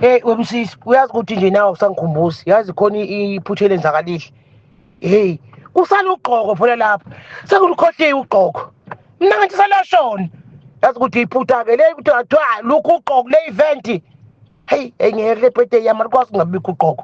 Hey webusisi uyazi ukuthi nje nawe usangikhumbuzi yazi khona iphutha elenzakalile hey kusala ugqoko phela lapha sekulikhohliwe ugqoko mina ngathi salashona yazi ukuthi iphutha-ke le ukuthi kuthiwa lukhu ugqoko le event heyi engeke le birthday yami alikwazi kungabikho ugqoko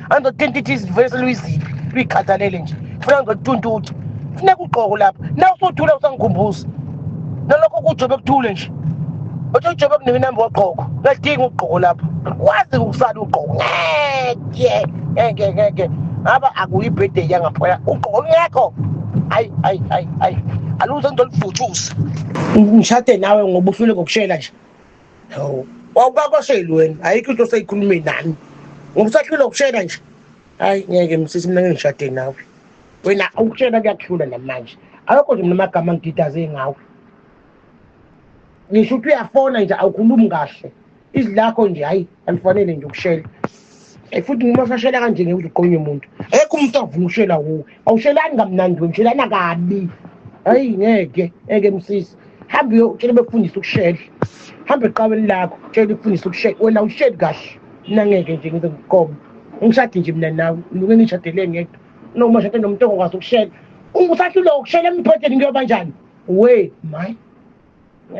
angizothenta ithi izivuyo seluyiziphi luyikhathalele nje funa ngizotuntuthu funa kugqoko lapha na usuthula usangikhumbuza nalokho kujobe kuthule nje othi ujobe kunike inamba wagqoko ngadinga ugqoko lapha kwazi ukusala ugqoko ngeke ngeke ngeke ngaba akuyibhede yangaphaya ugqoko ngekho hayi hayi hayi hayi aluze ngizolivuthuza ngishade nawe ngoba uhlule ngokushela nje hawu wawukakwasheli wena ayikho into oseyikhulume nami ngoba usahlule ukushela nje hayi ngeke msisi mina ngengishade nawe wena ukushela kuyakuhlula namanje awekho nje mina amagama ngididaze ngawe ngisho ukuthi uyafona nje awukhulumi kahle izwi lakho nje hhayi angifanele nje ukushela eh, futhi uma usashela kanje ngeke uze uqonywe umuntu ekho umuntu avuma ukushela kuwe awushelani kamnandi we mshelana kabi hayi ngeke ngeke msisi hambe uyotshela bekufundisa ukushela hambe eqabeni lakho tshela ukufundisa ukushela wena awusheli kahle mina ngeke nje ngize ngiqobe ngishade nje mina nawe ngike ngishadele ngedwa noma shade nomuntu ongakwazi ukushela ungusahluleka ukushela emphetheni kuyoba njani we my